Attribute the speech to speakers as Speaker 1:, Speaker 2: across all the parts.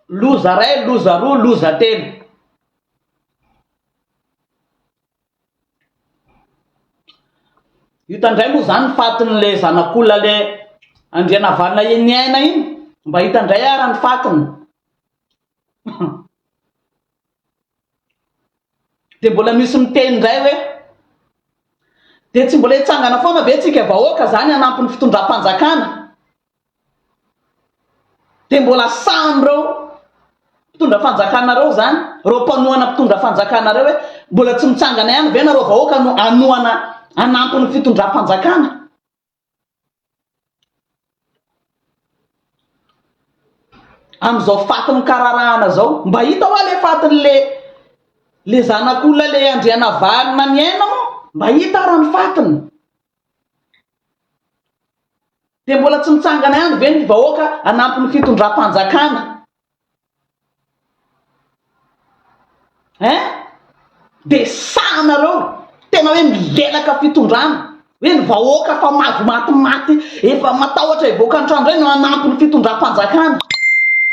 Speaker 1: Loza ray, loza roa, loza telo. Hita indray moa izany ny fatin'ilay zanak'olona ilay Andrianavalona iny aina iny, mba hita indray ara ny fatiny. Dia mbola misy miteny indray hoe dia tsy mbola hitsangana foana ve tsika vahoaka izany hanampy ny fitondram-panjakana? Dia mbola sahany ireo mpitondra fanjakana ireo izany, ireo mpanohana mpitondra fanjakana ireo hoe mbola tsy mitsangana ihany ve nareo vahoaka no hanohana hanampy ny fitondram-panjakana? Amin'izao faty mikararahana izao, mba hita hoa ilay fatin'ilay ilay zanak'olona ilay Andrianavalona Niaina moa mba hita ara ny fatiny? Dia mbola tsy mitsangana ihany ve ny vahoaka hanampy ny fitondram-panjakana eh? Dia sahy nareo tena hoe milelaka fitondrana hoe ny vahoaka efa mahazo matimaty efa matahotra hivoaka ny trano indray no hanampy ny fitondram-panjakana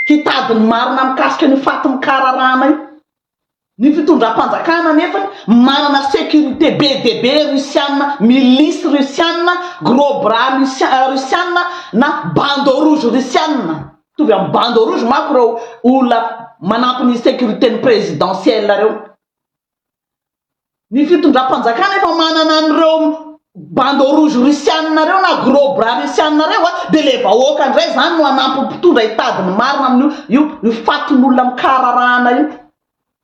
Speaker 1: hitady ny marina mikasika an'io fatin'ny kararahana io. Ny fitondram-panjakana anefa manana sécurité be dia be Russiana, milices Russiana, gros bras Russiana na bandeau rouge Russiana. Mitovy amin'ny bandeau rouge manko ireo olona manampy ny sécurité ny présidentielle ireo. Ny fitondram-panjakana efa manana an'ireo bandeau rouge russiana ireo na gros bras russiana ireo a, dia ilay vahoaka indray izany no hanampy ny mpitondra hitady ny marina amin'io io io fatin'olona mikahararahana io.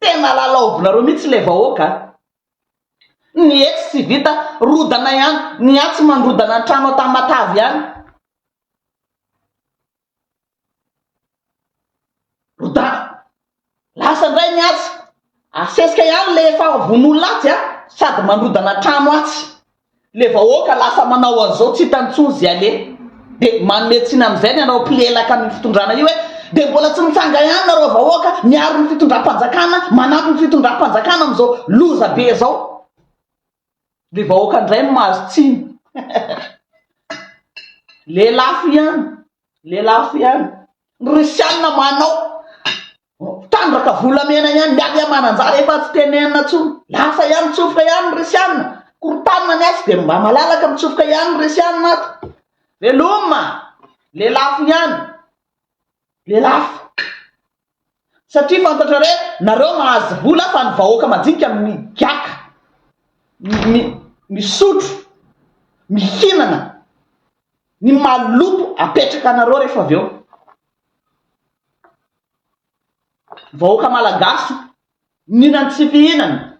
Speaker 1: Tena lalaovinareo mihitsy ilay vahoaka a! Ny etsy tsy vita, rodana ihany, ny atsy mandrodana ny trano an-tamatave ihany. Rodava. Lasa ndray ny atsy. Asesika ihany le efa vonoin'olona atsy a! Sady mandrodana trano atsy. Le vahoaka lasa manao an'zao tsy hitany tsony ze aleha. De manome tsiny am'zay ny anao mpilelaka amin'ny fitondrana io hoe de mbola tsy mitsanga ihany nareo vahoaka miaro ny fitondram-panjakana, manampy ny fitondram-panjakana am'zao loza be zao. Ny vahoaka ndray no mahazo tsiny. Lelafo ihany. Lelafo ihany. Ny russiana manao. Tandraka volamena ihany. Miady am ananjara efa tsy tenenina tsony. Lasa ihany mitsofoka ihany ny russiana. Korotanina ny atsy dia mba malalaka mitsofoka ihany ny russiana ato. Veloma. Lelafo ihany. Lelafo. Satria fantatra re nareo mahazo vola fa ny vahoaka majinika migiaka, mi, misotro, mihinana ny maloto apetraka anareo refa avy eo. Vahoaka malagasy mihinana tsy fihinana.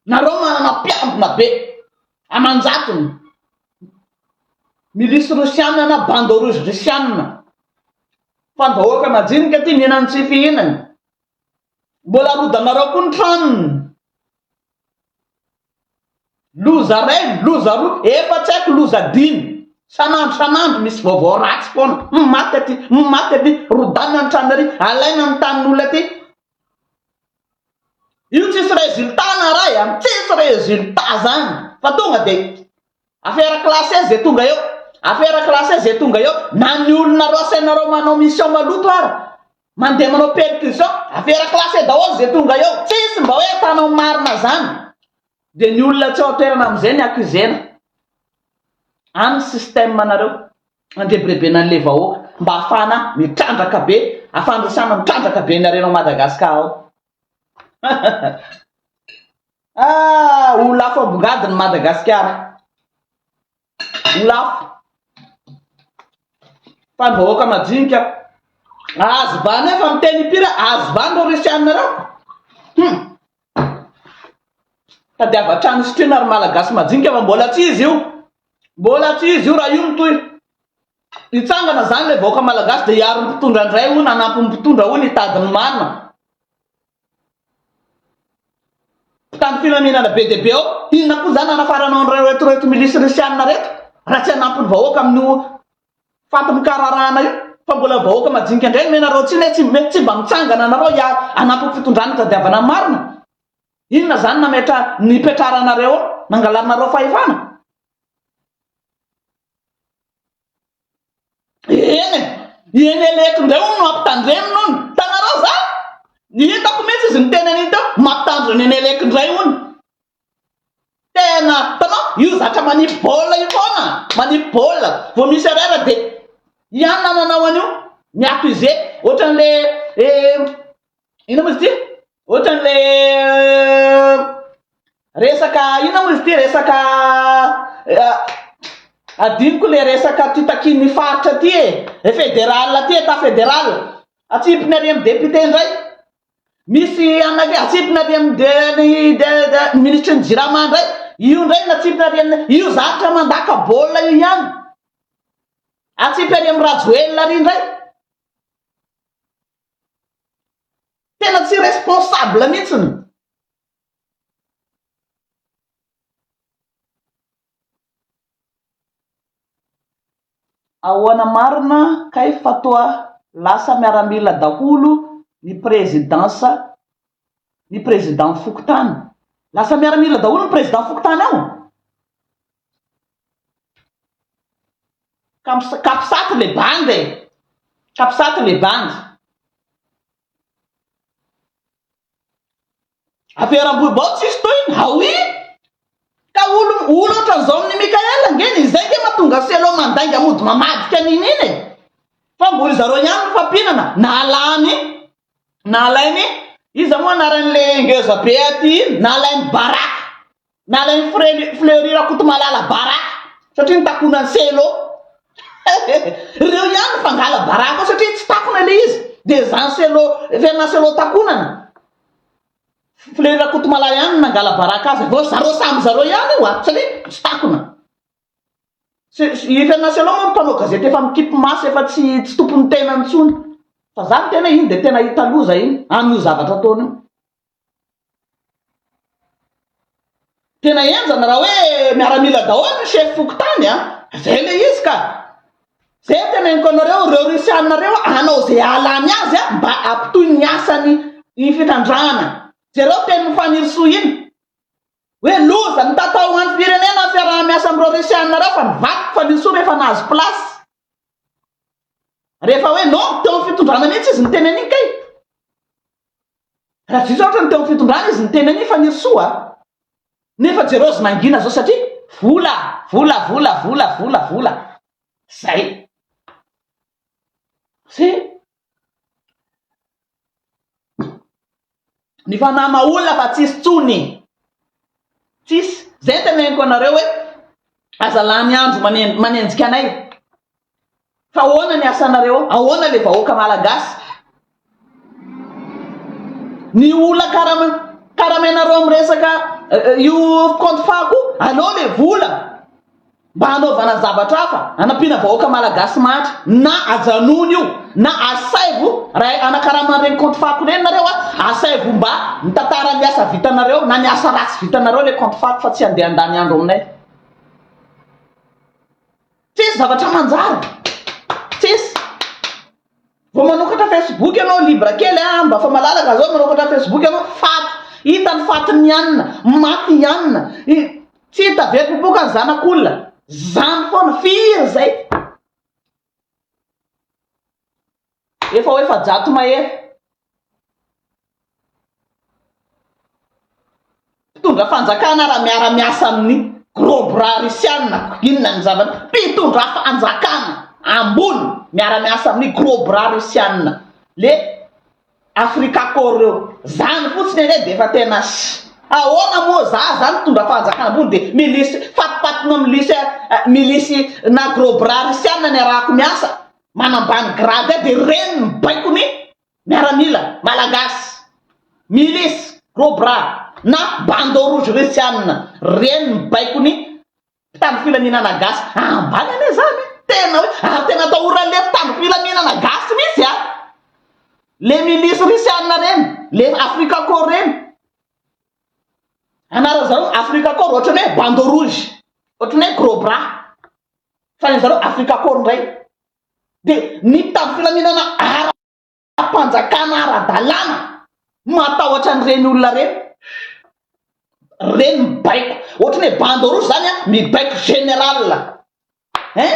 Speaker 1: Nareo manana mpiambina be aman-jatony, milisy rosianina na bande rouge rosianina, fa ny vahoaka majinika aty mihinana ny tsy fihinany, mbola rodanareo koa ny tranony, loza iray, loza roa, efa tsy haiko loza dimy, san'andro san'andro misy vaovao ratsy foana, humm maty aty, humm maty aty, rodanina ny tranony ary, alaina ny tanin'olona aty. Io tsisy résultat na ray a, tsisy résultat zany fa tonga de affaire classée ze tonga eo, affaire classée ze tonga eo, na ny olona rasainareo manao mission maloto ara mandeha manao percussion affaire classée daholo ze tonga eo, tsisy mba hoe mpanao marina zany, de ny olona tsy ao an-toerana amizay ny accusena, any ny système nareo. andrebirebena anle vahoaka mba afahana mitrandraka be afandrosana mitrandraka be ny arena ao Madagascar ao ah ho lafo ambongady ny Madagascar ho lafo fa ny vahoaka majinika azo bana efa miteny ipira azo bana reo resianina reo hmm. Tadiavo hatrany ny sotroina ry Malagasy majinika fa mbola tsy izy io. Mbola tsy izy io raha io no toy. Hitsangana izany ilay vahoaka Malagasy dia hiaro ny mpitondra indray hono hanampy ny mpitondra hono hitady ny marina. Mpitandro filaminana be dia be ao. Inona koa izany hanafaranao an'ireto milisy risianina ireto raha tsy hanampy ny vahoaka amin'io fatin-kararahana io fa mbola vahoaka majinika indray omena rahotsiana e, tsy mety tsy mba mitsangana anareo hiha hanampy ny fitondrana hitadiavana ny marina, inona zany nametra nipetraranareo ao nangalarinareo fahefana? Eny e, i Eneleko indray hono no hampitandreminy hono, hitanareo zany? Ny hitako mintsy izy niteny an'iny teo, mampitandrina Eneleko indray hono. Tena, hitanao, io zatra manipy baolina io foana, manipy baolina, vao misy erreur dia ianona no hanao an'io, mi accusé, ohatran'ilay eh, inona moa izy ity, ohatran'ilay eh, resaka, inona moa izy ity, resaka eh, adinoko ilay resaka aty takian'ny faritra aty e, eh, fédéral aty, état fédéral, atsipiny ary amin'ny député indray, Misy anay koa atsipina ary amin'ny DRIDA, ny minisitry ny jirama indray, io indray no atsipina ary amin'ny, io zavtra mandaka baolina io ihany, atsipy ary amin'i Rajoelina ary indray. Tena tsy responsable mihitsiny. Ahoana marina kay fa toa lasa miaramila daholo ny présidence ny président fokontany? Lasa miaramila daholo ny président fokontany ao? Ka capsat le bandy e! Capsat le bandy. Aperam-bohibao tsisy tohiny ha oui! Ka olo olo otran'zao amin'i Mickaël ange ny izay nge matonga Cello mandainga mody mamadika an'in'iny e! Fa mbo ry zareo ihany no fampinana nalany nalainy iza moa anaran'le ngeza be aty iny? nalainy baraka! Nalain'i Fre- Fleury Rakotomalala baraka satria nitakona an'i Cello. Ireo ihany no fangala baraka ao satria tsy takona ilay izy. Dia izany Cello, Fernand Cello takonana. Fleury Rakotomalala ihany no nangala baraka azy. Vao zareo samy zareo ihany io a, satria tsy takona. Se- se- I Fernand Cello moa no mpanao gazety efa mikipy maso, efa tsy tsy tompon'ny tenany intsony. Fa izany tena iny dia tena hita loza iny, amin'io zavatra ataony io. Tena henjana raha hoe miaramila daholo ny chef fokontany a! Zay le izy ka! Zay teneniko anareo reo rusiana reo a hanao ze ahalany azy a mba ampitohy ny asany ny fitrandrahana! Jereo tenin'i Fanirisoa iny hoe loza ny tata ho an'ny firenena ny fiaraha-miasa amin'ireo rusiana reo fa nivadik'i Fanirisoa rehefa nahazo place! Rehefa hoe non teo amin'ny fitondrana mihitsy izy niteny an'iny kay! Rajoelina ohatra ny teo am fitondrana izy niteny an'iny Fanirisoa a! Nefa jereo azy mangina zao satria vola, vola, vola, vola, vola, vola. Zay. Sy ny fanahy maha olona fa tsisy tsony. Tsisy. Zay ny teneniko anareo hoe aza lany andro manenjika anay. Fa ahoana ny asanareo? Ahoana le vahoaka malagasy? Ny ola karama karamainareo amin'ny resaka io compte fa koa aleo le vola mba hanaovana zavatra hafa hanampiana vahoaka malagasy mahantra na ajanony io na asaivo raha anakaraman'ny reny compte fako reny nareo a asaivo mba mitantara ny asa vitanareo na ny asa ratsy vitanareo le compte fako fa tsy handeha handany andro aminay Tsisy zavatra manjary. Tsisy. Vao manokatra Facebook ianao libre kely a, mba fa malalaka zao manokatra Facebook ianao faty. Hita ny fatin'ny anona, maty i anona. Tsy hita be popoka ny zanak'olona. Zany foana, firy zay. Efa ho efajato mahery mpitondra fanjakana raha miara miasa amin'ny gros bras russiana inona ny zava mpitondra fanjakana ambony miara miasa amin'ny gros bras russiana le afrika corps reo zany fotsiny anie de efa tena ahoana moa za zany mpitondra fanjakana ambony de milisy fatopatona milisy milisy na gros bras russiana ny arahako miasa manambany grade ahy de reny ny baiko ny miaramila malagasy milice gros bras na bandeau rouge russianina reny ny baiko ny mpitandro filaminana gasy ambany anie zany tena hoe ary tena atahoran'le mpitandro filaminana gasy mihitsy a le milice russianina reny le afrika corps reny anaran'zareo afrika corps ohatran'ny hoe bandeau rouge ohatran'ny hoe gros bras fa ny an'zareo Africa Corps ndray de nitady filaminana ara-panjakana ara-dalàna, matahotra an'ireny olona ireny, ireny mibaiko ohatry ny hoe bande rouge zany a, mibaiko général hein,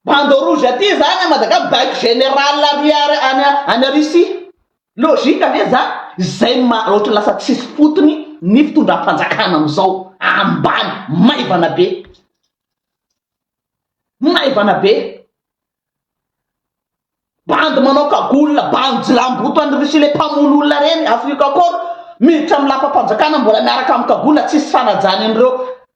Speaker 1: bande rouge aty zany a Madaga mibaiko général ary any Russie. Logique ve zany? Zay no maha ohatry ny lasa tsisy fotony ny fitondram-panjakana amizao. Ambany. Maivana be. Maivana be. Bandy manao kagola, bandy jilamboto an'i Russie le mpamono olona reny, Afrika akory, miditra amin'ny lapam-panjakana mbola miaraka amin'ny kagola, tsisy fanajany an'ireo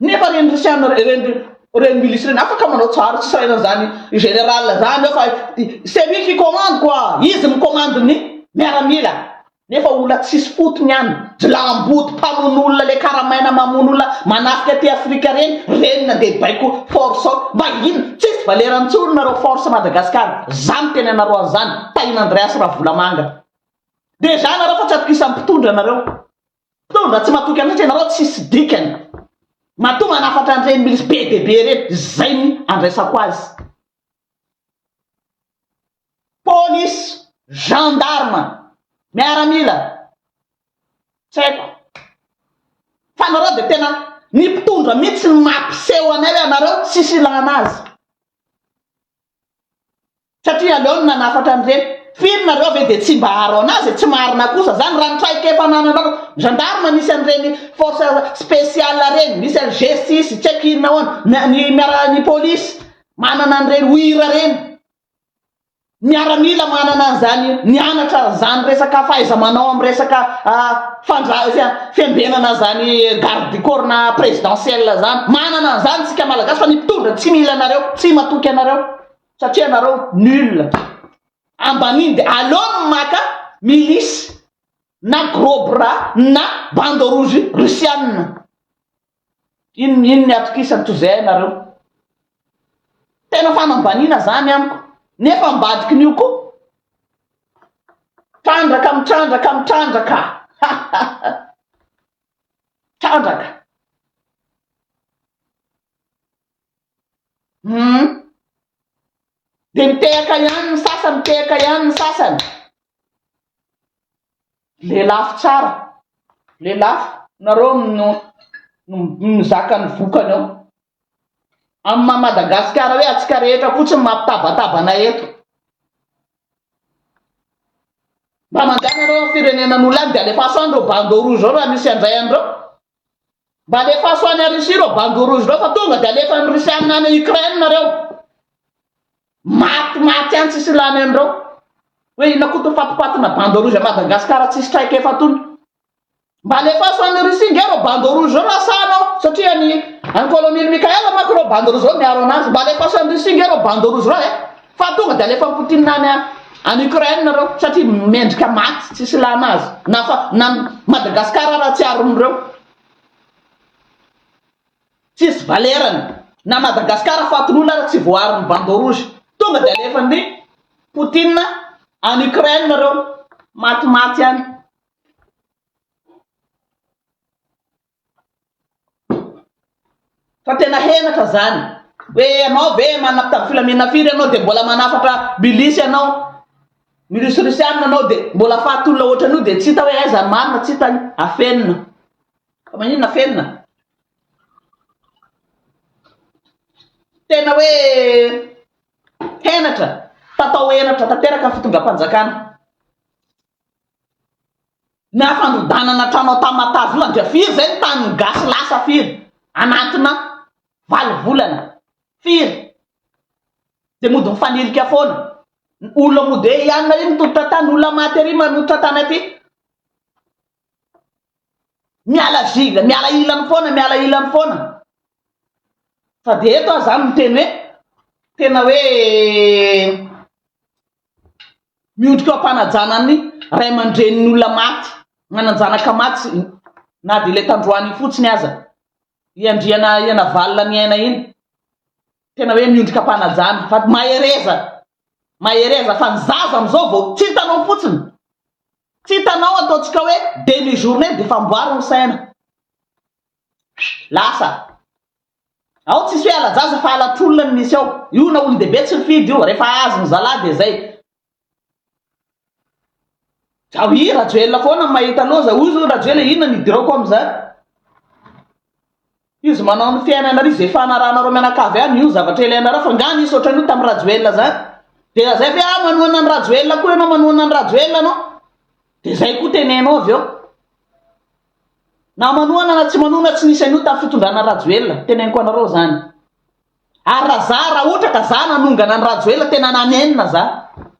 Speaker 1: Nefa reny rosiana reny reny milisy reny afaka manao tsara tsy sahirana zany general zany fa c'est lui qui commande quoi izy mi commande ny miaramila nefa olona tsisy fotony any jilamboto mpamono olona le karamaina mamono olona manafika aty afrika reny reny nandeha baiko force ao mba inona tsisy valera ntsony nareo force madagascar zany tena anareo anzany tahin'andreas ravolamanga deja nareo fa tsy atokisam pitondra nareo Toa mba tsy matoky an'Atra ianareo tsisy dikany. Matoa manafatra an'ireny milisy be dia be ireny, izay ny andraisako azy. Polisy, gendarme, miaramila, tsy haiko. Fa nareo dia tena, ny mpitondra mihitsy no mampiseho anay hoe anareo tsisy ilana azy. Satria aleo ny nanafatra an'ireny. Firy nareo ve dia tsy mba haro anazy e? Tsy marina kosa zany raha ny traikefa anananareo. Gendarme misy an'ireny force speciale reny, misy an'i G-six, tsy haiko inona ahoana, ny ny miara ny police manana an'ireny, OIRA ireny, miaramila manana an'izany, nianatra an'izany resaka fahaiza-manao amin'ny resaka. fandraisana fiambenana zany garde du corps na presidentiel zany manana an'izany tsika malagasy fa ny mpitondra tsy mila anareo tsy matoky anareo satria anareo nul ambaniny de aleo ny maka milice na gros bras na bande rouge russianina Inn inn ny atokisany toy izay ianareo. Tena fanambaniana zany amiko nefa ambadikin'io koa trandraka mitrandraka mitrandraka ha ha ha trandraka humm de mitehaka ihany ny sasany mitehaka ihany ny sasany Lelafo tsara. Lelafo. Nareo no mizaka ny vokany ao. Amin'ny maha Madagasikara hoe antsika rehetra fotsiny mampitabataba anay eto. Mba mandehana nareo amin'ny firenenan'olo any dia alefaso any reo bandeau rouge reo raha misy handray anreo. Mba alefaso any Russie ireo bandeau rouge ireo fa tonga dia alefan'ny Russiana any Ukraine nareo. Maty maty any tsisy lany an'ireo. Hoe inona koa to fatipatina bandeau rouge à Madagascar tsisy traika efa tony. Mba alefaso any Russie nge ireo bandeau rouge ireo na sano satria any any colonel Michael manko ireo bandeau rouge ireo miaro anazy. Mba alefaso any Russie nge ireo bandeau rouge ireo eh. Fa tonga dia alefan'i Poutine any any Ukraine ireo satria mendrika maty tsisy ilana azy na fa na Madagascar ara tsy aron'ireo tsisy valerany na Madagascar fatin'olona ara tsy voaharon'ny bande rouge tonga dia alefan'i Poutine any Ukraine ireo maty maty any Fa tena henatra zany. Hoe ianao ve manapitapy filaminana firy ianao dia mbola manafatra milisy ianao, milisy rosianina ianao dia mbola faty olona ohatran'io dia tsy hita hoe aiza ny marina, tsy hita ny afenina. Fa maninona afenina? Tena hoe henatra, tatao henatra tanteraka ny fitondram-panjakana. Ny hafandodanana trano ao Tamatave io dia firy izay ny tanin'ny gasy lasa firy anatina valo volana? Firy? Dia mody mifanilika foana. Olona mody eo ihany na inona mitototra tany, olona maty ery manototra tany aty. Miala zigla, miala ilany foana, miala ilany foana. Fa dia eto aho izany miteny hoe tena hoe miondrika eo am-panajana ny ray aman-drenin'ny olona maty, nanan-janaka maty na dia ilay tandroany iny fotsiny aza, i Andriana i Anavalona niaina iny. Tena hoe miondrika am-panajana fa mahereza, mahereza fa ny zaza amin'izao vao tsy hitanao fotsiny. Tsy hitanao ataontsika hoe demi journee dia efa amboary ny saina. Lasa. Ao tsisy hoe ala-jaza fa ala-tolona no misy ao. Io na olon-dehibe tsy mifidy io, rehefa hahazo ny zalahy dia izay. Ao i Rajoelina foana no mahita loza. Hoy izao Rajoelina inona no idirako amin'izany? Izy manao amin'ny fiainanareo izy efa anarahanareo mianakavy ihany io zavatra ilainareo fa nga nisy ohatran'io tamin'ny rajoelina zany dia zay ve ah manohana ny rajoelina koa ianao manohana ny rajoelina anao dia zay koa tenenao avy eo na manohana na tsy manohana tsy nisy an'io tamin'ny fitondrana rajoelina teneniko anareo zany ary raha za raha ohatra ka za nanongana ny rajoelina tena nanenina za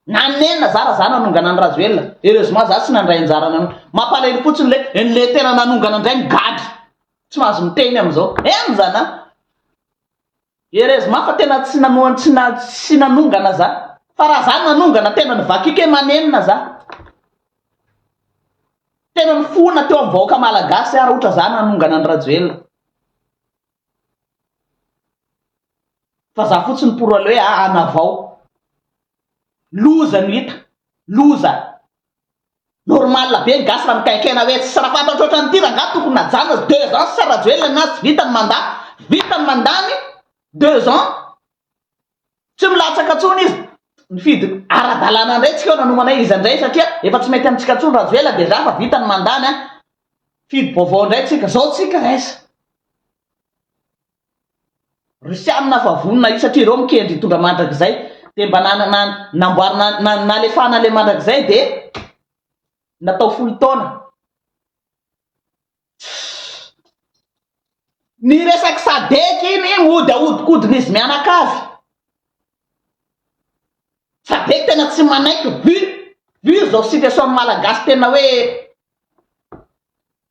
Speaker 1: nanenina za raha za nanongana ny rajoelina heureusement za tsy nandray anjara nanao mampalahelo fotsiny le ny le tena nanongana indray migadra Tsy mahazo miteny amin'izao. Henjana an! Erez mafy fa tena tsy nanohana tsy na tsy nanongana za. Fa raha za nanongana tena nivakiko e manenina za. Tena nifona teo amin'ny vahoaka malagasy aho raha ohatra za nanongana an'i Rajoelina. Fa za fotsiny pour le hoe hanavao. Loza no hita. Loza. Normal be ny gasy raha mikaikaina hoe tsy sara fatra otratra an'ity rangah tokony najanona deux ans sisa rajoelina nazy tsy vita ny mandat vita ny mandat ny deux ans tsy milatsaka tsony izy nifidy aradalana indray tsika nanomanay iza indray satria efa tsy mety amintsika tsony rajoelina dejà fa vita ny mandat ny fidy vaovao indray tsika zao tsika raiza Rusiana fa vonona io satria ireo mikendry hitondra mandrakizay dia mba nanana namboarina na nalefahana ilay mandrakizay dia natao folo taona Ny resaky sadec iny mody ahodikodina izy mianakavy. Sadec tena tsy manaiky vu vu zao situation malagasy tena hoe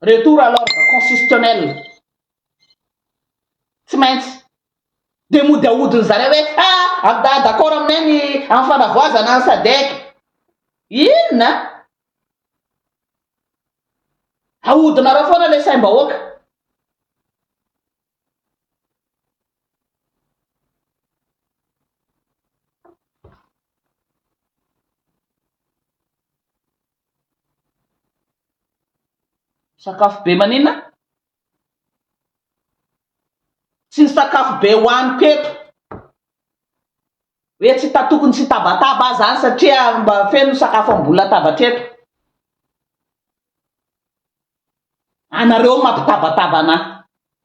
Speaker 1: retour à l'ordre constitutionnel, tsy maintsy dia mody ahodin-dry zareo hoe ha ha d'accord aminay ny amin'ny fanavoazana ny sadec, inona? Ahodinareo foana ilay saim-bahoaka. Sakafo be maninona? Tsy ny sakafo be hohaniko eto hoe tsy hita tokony tsy hitabataba aho izany satria mba feno ny sakafo ambonin'ny latabatra eto. Anareo mampitabataba anah.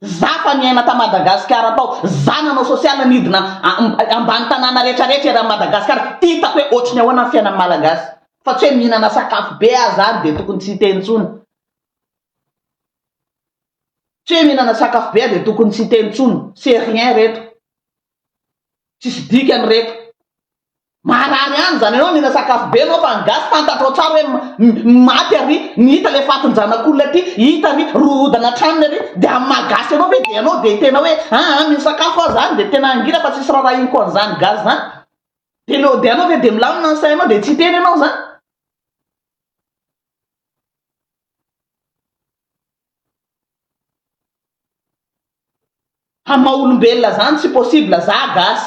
Speaker 1: Za fa niaina ta Madagascar tao, za nanao social nidina ambany tanàna rehetra rehetra eran Madagascar, hitako hoe ohatry ny ahoana ny fiainan'ny malagasy. Fa tsy hoe mihinana sakafo be aza any dia tokony tsy hiteny intsony. Tsy hoe mihinana sakafo be aza dia tokony tsy hiteny intsony, c'est rien reto. Tsisy dikany reto. Maharary any zany anao mihinana sakafo be anao fa ny gasy fantatrao tsara hoe ny maty ary ny hita le fatin janakolona ty hita ary rohodana atranony ary de amin'ny maha gasy anao ve de anao de tena hoe aa mino sakafo aho zany de tena angina fa tsisy rarahiniko an'zany gasy zany de le de anao ve de milamina ny sainao de tsy hiteny anao zany. Ha maha olombelona zany tsy possible za gasy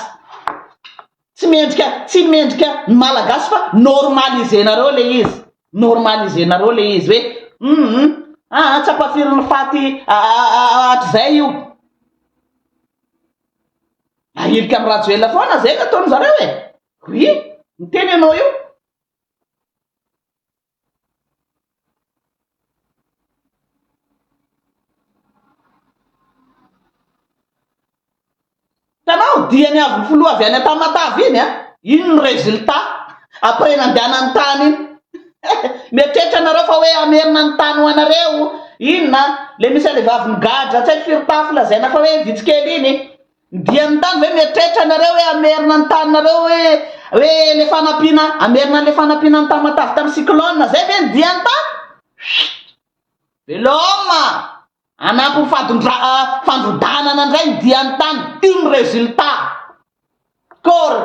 Speaker 1: tsy mendrika tsy mendrika ny malagasy fa normalisenareo le izy normalisenareo le izy hoe hum aa tsy ampafirin'ny faty hatrizay io ahilika am rajoelina foana zay no ataon'zareo e oui miteny ianao io Hitanao, diany avy ny filoha avy any Tamatave iny an! Iny ny résultat après nandehanany tany iny. Mieritreritra nareo fa hoe hamerina ny tany ho anareo, inona, le misy anle vavy migadra tsy hay firy tafo lazaina fa hoe vitsy kely iny. Dian'ny tany ve mieritreritra ianareo hoe hamerina ny taninareo hoe hoe le fanampiana hamerina an'le fanampiana an'i Tamatave tamin'ny cyclone? Zay ve ny dian'ny tany? Chut! Veloma! Hanampy ny fadondra fandrodanana indray ny dian'ny tany iny résultat! Kôry!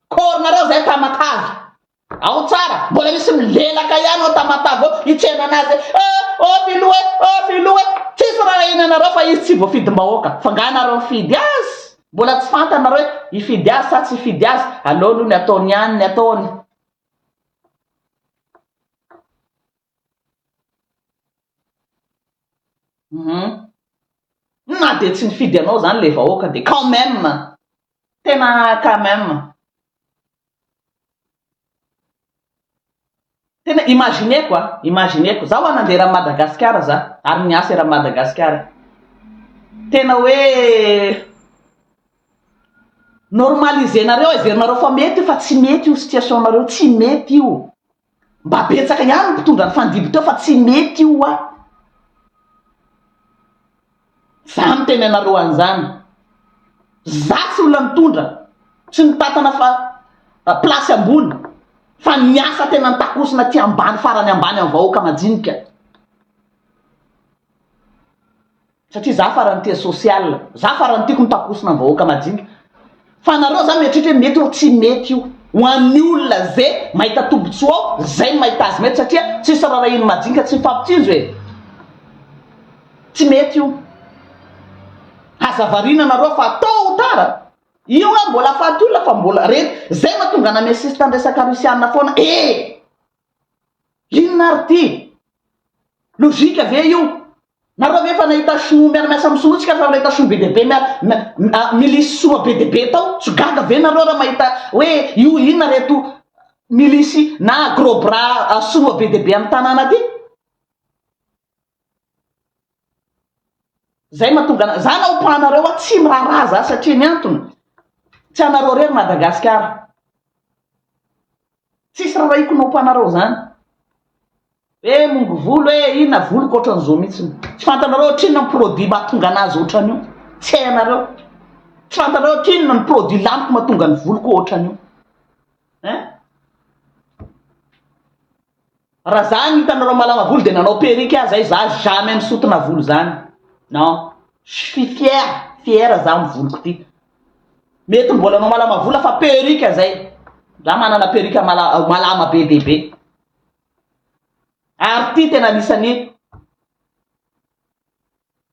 Speaker 1: Kôry nareo zay Tamatave! Ao tsara, mbola misy milelaka ihany ao Tamatave ao hitsena anazy hoe eh oh Filoha eh oh Filoha eh! Tsisy raharahiana anareo fa izy tsy voafidim-bahoaka, fa nga nareo nifidy azy? Mbola tsy fantanareo hoe hifidy azy sa tsy hifidy azy? Aleo aloha ny ataony ihany ny ataony. Uhum. Na dia tsy nifidy anao izany ilay vahoaka dia quand même! Tena quand même! Tena imagineko a, imagineko, za oa nandeha eran'i Madagasikara za, ary niasa eran'i Madagasikara, tena hoe normaliser-nareo, heverinareo fa mety io fa tsy mety io situation-nareo, tsy mety io. Mba betsaka ihany ny mpitondra ny fandibo teo fa tsy mety io hoa. Za miteny anareo an'izany. Za tsy olona nitondra, tsy nitantana fa place ambony fa niasa tena nitakosona aty ambany farany ambany amin'ny vahoaka majinika. Satria za farany tia social, za farany tiako ny takosona ny vahoaka majinika. Fa anareo za mieritreritra hoe mety or tsy mety io. Ho an'ny olona ze mahita tombotsoa ao, zay no mahita azy mety satria tsisy rarahin'ny majinika tsy mifampitsinjo e. Tsy mety io. Aza variana anareo fa tot ou tard, io hoe mbola afaty olona fa mbola, re, zay mahatonga an'Amesista ny resaka Rusiana foana ee. Inona ary ty? Lojika ve io? Nareo ve efa nahita choux miara miasa am sinoa tsika fa nahita choux be dia be miara milisy sinoa be dia be tao? Tsy gaga ve nareo raha mahita hoe io inona reto milisy na gros bras sinoa be dia be am tanàna aty? Zay mahatonga anareo, za naopa anareo hoa tsy miraharaha za satria ny antony tsy anareo rery Madagasikara. Tsisy rarahiko naopa anareo zany. Hoe mongo volo hoe inona voloko ohatran'izao mihitsy. Tsy fantanareo ohatrinona ny produit mahatonga anazy ohatran'io. Tsy hainareo. Tsy fantanareo ohatrinona ny produit laniko mahatonga ny voloko ohatran'io. Hein? Raha za no hitanareo malama volo de nanao perruque aza ahy za jamais misotona volo zany non je suis fier fier za am voloko ty mety mbola anao malama vola fa perruque zay za manana perruque mala malama be de be ary ty tena anisany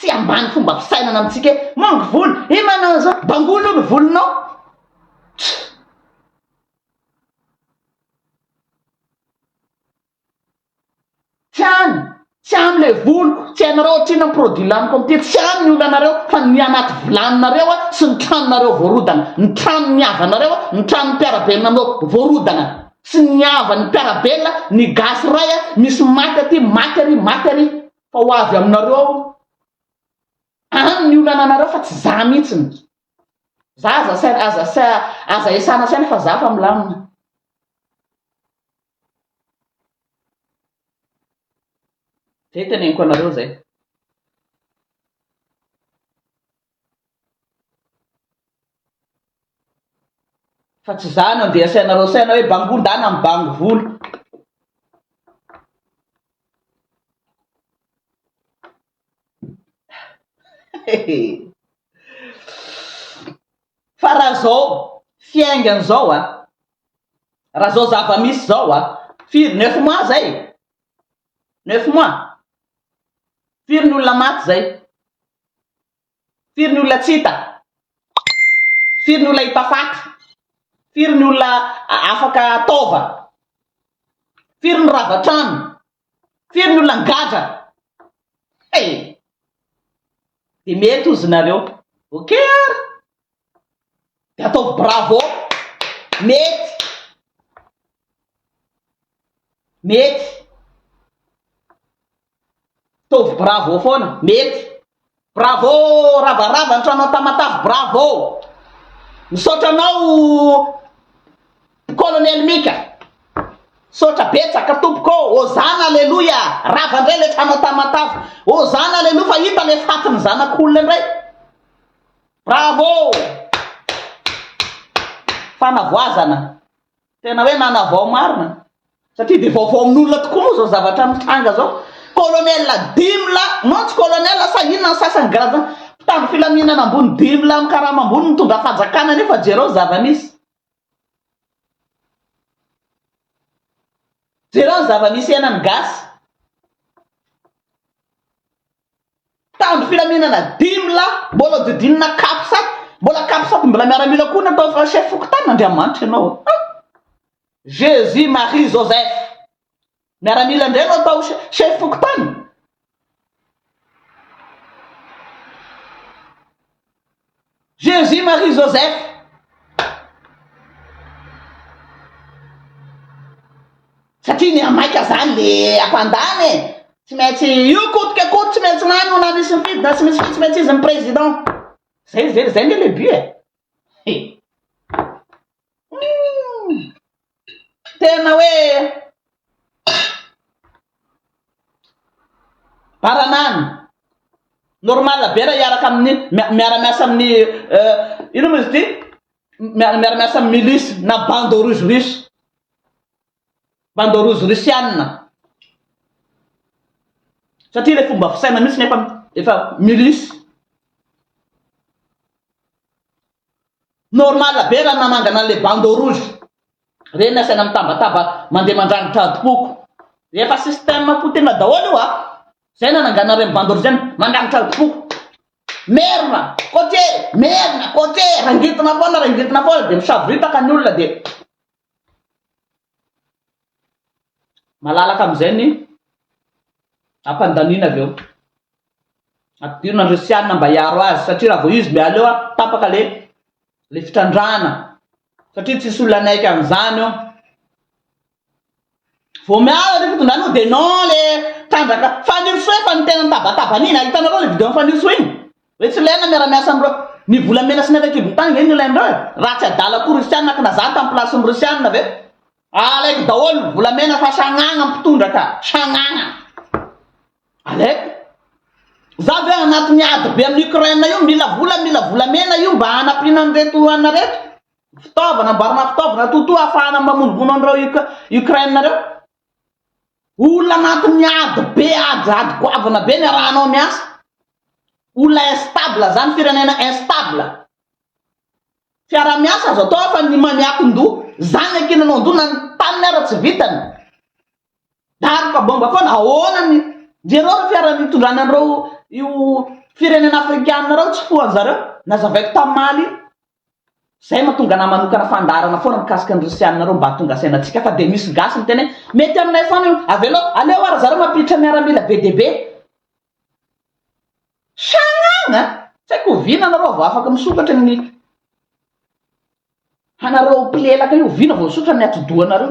Speaker 1: Tsy ambany fomba fisainana amintsika e! Mangy volo! He manao an'izao! Bangolo ny volonao! Tch! Tsy any! Tsy any le voloko! Tsy hainareo ohatr'inona ny produit laniko amin'ity! Tsy any ny olanareo fa ny anaty vilaninareo a! Sy ny tranonareo voarodana! Ny tranon'ny havanareo a! Ny tranon'ny mpiara-belona aminao voarodana! Tsy ny havan'ny mpiara-belona, ny gasy ray a! Misy maty aty! Maty ary! Maty ary! fa ho avy aminareo aho any ny olana anareo fa tsy za mihitsiny za aza saina aza sa aza esana saina fa za fa milamina zay teneniko anareo zay Fa tsy za no andeha asainareo saina hoe bangoda na mibango vola. Fa raha zao fiaingany zao a, raha zao zava-misy zao a, firy neuf mois zay? Neuf mois? Firy ny olona maty zay? Firy ny olona tsy hita? Firy ny olona hita faty? Firy ny olona afaka taova? Firy ny rava trano? Firy ny olona nigadra? Hey! Dia mety ozy nareo. Ok ary! Dia ataovy bravo! Mety! Mety! Ataovy bravo foana, mety. Bravo Ravarava ny tranao Tamatave bravo. Misaotra anao Colonel Mika. Misaotra betsaka tompoko ô. Hozana aleloia. Rava indray le tranao Tamatave. Hozana aleloia fa hita le fatin'ny zanak'olona indray. Bravo. Fanavoazana. Tena hoe nanavao marina satria dia vaovao amin'olona tokoa moa izao zavatra mitranga izao. Colonel dimy lahy, non tsy colonel sa inona ny sasany grade mpitandro filaminana ambony dimy lahy amin'ny karama ambony nitondra fanjakana nefa jereo zava-misy. Jereo ny zava-misy iainan'ny gasy. Mpitandro filaminana dimy lahy mbola hodidinina capsat, mbola capsat mbola miaramila koa natao fa chef fokontany Andriamanitra ianao a! ah! Jesus Marie Joseph! miaramila indray no atao chef fokontany? Jésus Marie Joseph satria ny amaika zany le ampandany e tsy maintsy io kotika koty tsy maintsy lany ho na misy mifidy na tsy misy fidy tsy maintsy izy ny président zay zay zay nge le but e tena hoe baranany normal be raha hiaraka amin'ny miara-miasa amin'ny ino moa izy ity miara-miasa amin'ny milisy na bande rouge russe bande rouge russiana satria ilay fomba fisaina mihitsy nefa efa milisy Normal be raha nanangana an'ilay bandeau rouge. Reny ny asaina mitabataba mandeha mandrangotra adim-poko. Efa système potehina daholo io a! Izay nananganana ireny bandeau rouge ireny, mandrangotra adim-poko. Merina, cotier, merina, cotier, rangitina foana, rangitina foana dia misaboritaka ny olona dia Malalaka amin'izay ny hampandaniana avy eo. Ampidirina ny Rosiana mba hiaro azy satria raha vao izy mba aleo a, tapaka le le fitrandrahana satria tsisy olona hanaiky an'izany eo. Vao miala ilay fitondrana io dia non le mpandraka Fanirisoa efa ny tena nitabataba an'iny a! Hitanareo ilay video an'i Fanirisoa iny? Hoe tsy ilaina ny miara-miasa amin'ireo Ny volamena sy ny avy an-kibon'ny tany ve no ilain'ireo e? Raha tsy adala koa Rusiana kna za tamin'ny place-n'ny Rusiana ve? Alaiko daholo ny volamena fa sagnagna ny mpitondra ka! Sagnagna! Alaiko! Za ve anatin'ny ady be amin'i Ukraine io mila vola mila volamena io mba hanampiana an'ireto anareo? Fitaovana, amboarina fitaovana totoa hahafahana mamonovono an'ireo Ukraine reo. Olona anatin'ny ady be, ady, ady goavana be ny arahanao miasa. Olona instable zany, firenena instable. Fiarahamiasa azo atao fa ny maniakin-doha, zany ankinanao-doha na ny taniny ara tsy vitany. Daroka bomba foana, ahoana ny, jereo reo fiara nitondrany an'ireo io firenena afrikana reo tsy fohan'zareo, nazavaiko tamin'ny Mali, Zay mahatonga anah manokana fandaharana foana mikasika ny Rosiana reo mba hahatonga saina antsika fa dia misy gasy miteny hoe mety aminay foana io, avelao, aleo ary zareo mampiditra miaramila be dia be. Sagnagna a! Tsy haiko oviana anareo vao afaka misokatra ny hanareo mpilelaka io, oviana vao misotra ny atidohanareo.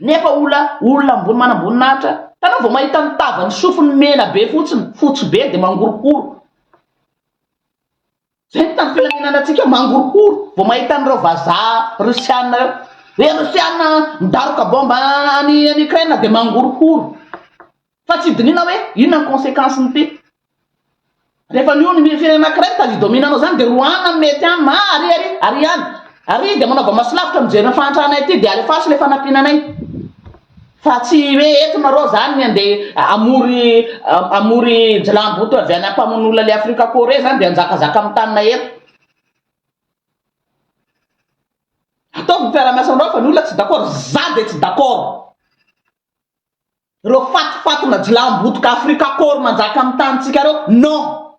Speaker 1: Nefa ola olona ambony manamboninahitra, tanao vao mahita ny tavan'ny sofiny mena be fotsiny, fotsy be dia mangorokoro. Zay ny tany filaminana antsika mangorokoro vao mahita an'ireo vazaha Russiana ireo. Hoe Russiana midaroka bomba any any Ukraine dia mangorokoro. Fa tsy dinihina hoe inona ny consequence-ny ity. Rehefa miono ny firenena anankiray talidomina anao izany dia roahina ny mety aminy, ah ary ary ary any ary dia manaova maso lavitra mijery ny fahantrana ity dia alefaso ilay fanampiana anay fa tsy hoe eto nareo izany ny andeha hamory hamory jilamboto avy any ampamono olona ilay Afrika Corée izany dia hanjakazaka amin'ny tanina eto. Ataovy ny fiaraha-miasa aminareo fa ny olona tsy d'accord, za dia tsy d'accord. Reo fatifatina jilam bodoka afrika akory manjaka am tany tsika reo non!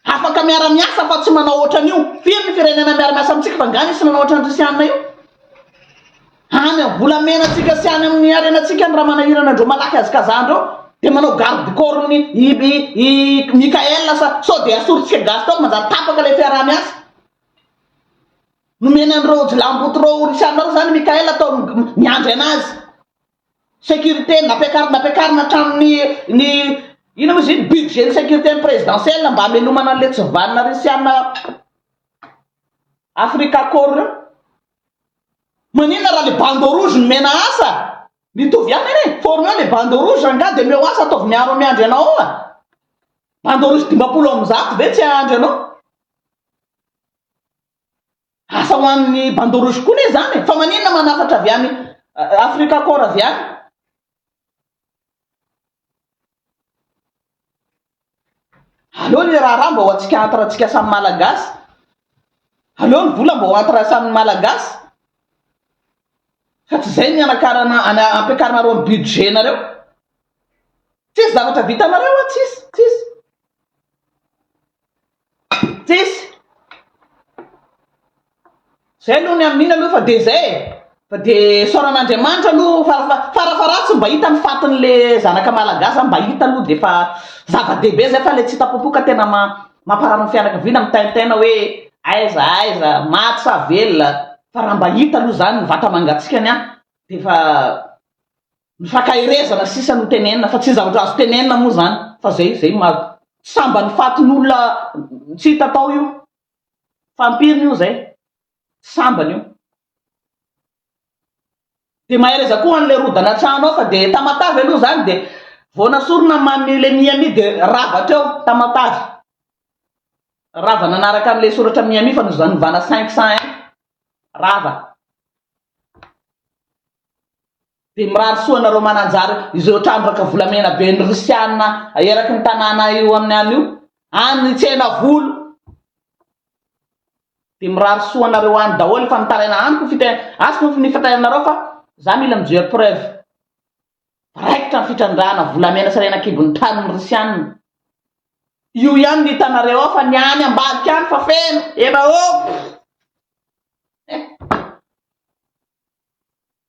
Speaker 1: Afaka miara miasa fa tsy manao otran io, firy ny firenena miara miasa amitsika fa nga misy nanao otran risianina io? Any am volamena tsika sy any aminy arena tsika ny raha manahirana andreo malaky azikaza andreo de manao garde corps ny i i i Mickaël sa sao de asory tsika gasy tao manjary tapaka le fiaraha miasa? Nomena an'ireo jiolahimboto ireo orinasa anareo izany Mickaël ataony miandry anazy. Sécurité nampiakarina nampiakarina hatramin'ny ny inona moa izy iny budget-n'ny sécurité-n'ny présidentielle mba hamelomana an'ilay tsivanona Risiana Africa Accord ireo. Maninona raha ilay bandeau rouge nomena asa? Mitovy ihany anie. Formeo ilay bandeau rouge rangahy dia omeo asa ataovy miaro miandry anao ao a! Bandeau rouge dimampolo amby zato ve tsy hahandry anao? Asa ho an'ny Bandeau Rouge koa ne zany e! Fa maninona manafatra avy any Africa Corps avy any? Aleo le raharaha mba ho antsika entre antsika samy Malagasy. Aleo ny vola mba ho entre samy Malagasy. Fa tsy zay ny anakarana ana ampiakarinareo ny budget nareo. Tsisy zavatra vitanareo an, tsisy, tsisy. Tsisy. Zay aloha ny amin'iny aloha fa dia zay e! Fa dia isaorana Andriamanitra aloha fa fa farafaharatsiny mba hita ny fatin'le zanaka Malagasy zany mba hita aloha dia efa zava-dehibe zay fa le tsy hita popoka tena ma- mamparary ny fianakaviana mitaintaina hoe aiza aiza, maty sa velona, fa raha mba hita aloha zany ny vata-mangatsiakany an! dia efa Mifankaherezana sisa no tenenina fa tsy zavatra azo tenenina moa zany fa zay zay ma sambany fatin'olona tsy hita tao io fa ampiriny io zay sambany io de mahereza koa an'le rodana an-trano ao fa de tamatave aloha zany de vao nasorona mami le miami de rava treo tamatave rava nanaraka an'le soratra miami fa nozanovana 501 rava dia mirary soa anareo mananjary izao trandraka volamena be ny rosiana eraky ny tanàna io amin'ny any io any tsena volo dia mirary soa anareo any daholo fa mitaraina any ko fite asy ko ny fitainareo fa za mila mijery preuve raikitra ny fitrandrahana volamena sy rena kibon'ny tany ny rosiana io ihany ny hitanareo ao fa ny any ambadika any fa feno ena ô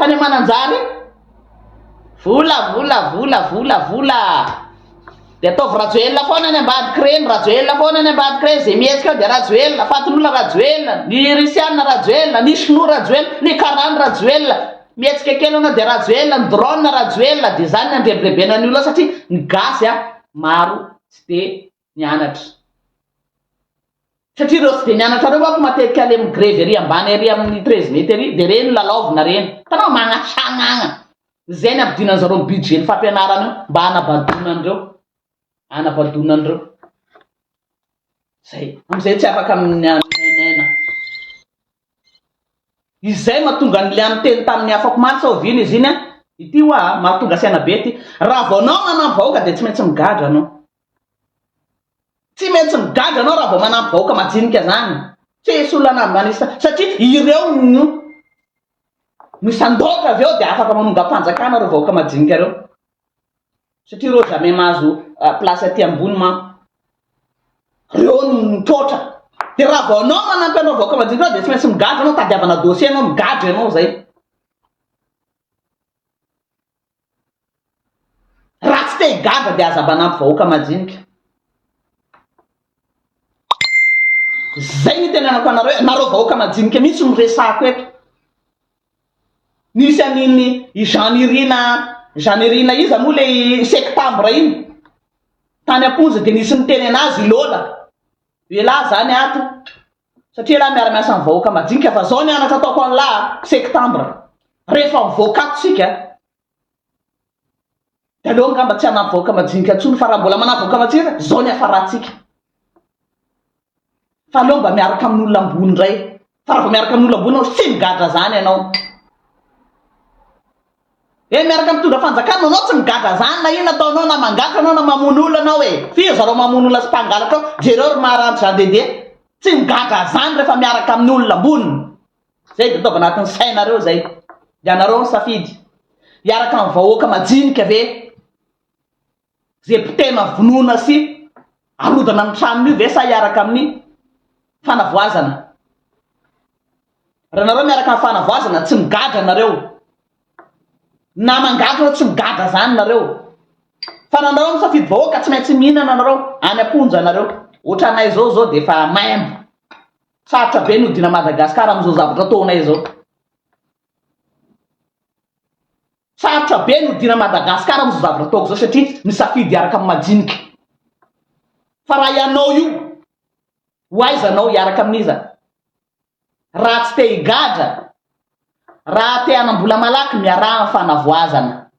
Speaker 1: Tany Mananjary, vola, vola, vola, vola, vola. Dia ataovy Rajoelina foana any ambadika ireny, Rajoelina foana any ambadika ireny, izay mihetsika ao dia Rajoelina, Fatin'olona Rajoelina, ny Risiana Rajoelina, ny Sinoa Rajoelina, ny Karana Rajoelina, mihetsika kely anao dia Rajoelina, ny drone Rajoelina, dia izany ny andrebirebena ny olona satria ny gasy a, maro tsy dia mianatra satria reo tsy de mianatra reo manko matetika le migrevy ery ambany ery aminy treize mety ery de reny lalaovina reny hitanao magnasagnagna zay ny ampidinany zareo ny budget ny fampianarana io mba hanabadona anreo hanabadona anreo zay amizay tsy afaka miaina. Izay mahatonga an'i Liam niteny tamin'ny afako omaly sao vina izy iny a! Ity hoa a! Mahatonga saina be ity. Raha vao anao manampy vahoaka dia tsy maintsy migadra anao. Tsy maintsy migadra anao raha vao manampy vahoaka majinika izany. Tsy hisy olona manisa satria ireo no no sandoka avy eo dia afaka manongam-panjakana ireo vahoaka majinika ireo. Satria reo jamais mahazo place aty ambony manko. Reo no mipoitra. De raha vao anao manampy anao vahoaka madinika anao de tsy maintsy migadra anao tadiavana dossier anao migadra ianao zay. Raha tsy te higadra de aza manampy vahoaka madinika. Zay no itenenako anareo, nareo vahoaka madinika mihitsy no resahako eto. Nisy an'iny i Janirina Janirina iza moa ilay sektambra iny? Tany am-ponja dia nisy niteny an'azy i Lola. Ialahy izany ato satria ialahy miara-miasa amin'ny vahoaka madinika fa izao ny anatra ataoko an'lah a! sektambra rehefa mivoaka ato isika a! Taloha angamba tsy hanavoaka majinika intsony fa raha mbola manavoaka majinika izao ny hafarantsika. Fa aleo mba miaraka amin'olona ambony indray. Fa raha vao miaraka amin'olona ambony ianao tsy migadra izany ianao. E miaraka mitondra fanjakana ianao tsy migadra izany na inona ataonao na mangataka ianao na mamono olona ianao e. F'iza zareo mamono olona sy mpangalatra ao? Jereo ry maharanty Jean Dédé. Tsy migadra izany rehefa miaraka amin'olona ambony. Izay dia ataovy anatin'ny sainareo izay. Ianareo no safidy. Hiaraka amin'ny vahoaka majinika ve izay mpitena vonoana sy arodana ny tranony io ve sa hiaraka amin'ny fanavoazana? Raha nareo miaraka amin'ny fanavoazana tsy migadra nareo. Na mangadra tsy migadra izany nareo. Fa na nareo misafidy vahoaka tsy maintsy mihinana nareo any am-ponja nareo. Ohatranay izao izao dia efa maimbo. Sarotra be ny hodiana Madagascar amin'izao zavatra ataonay izao. Sarotra be ny hodiana Madagascar amin'izao zavatra ataoko izao satria misafidy hiaraka amin'ny majinika. Fa raha ianao io, ho aiza anao hiaraka amin'iza? Raha tsy te higadra, raha te hanam-bola malaky miaraha amin'ny fanavoazana.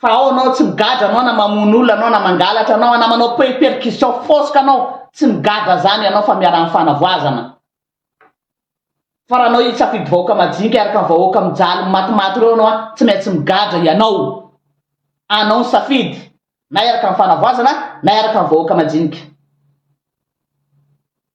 Speaker 1: fa ao anao tsy migadra anao na mamono olona anao na mangalatra anao na manao pe- percussion foska anao tsy migadra zany ianao fa miaraha amin'ny fanavoazana fa raha anao hisafidy vahoaka majinika hiaraka amin'ny vahoaka mijaly matimaty ireo anao a tsy maintsy migadra ianao anao ny safidy na hiaraka amin'ny fanavoazana na hiaraka amin'ny vahoaka majinika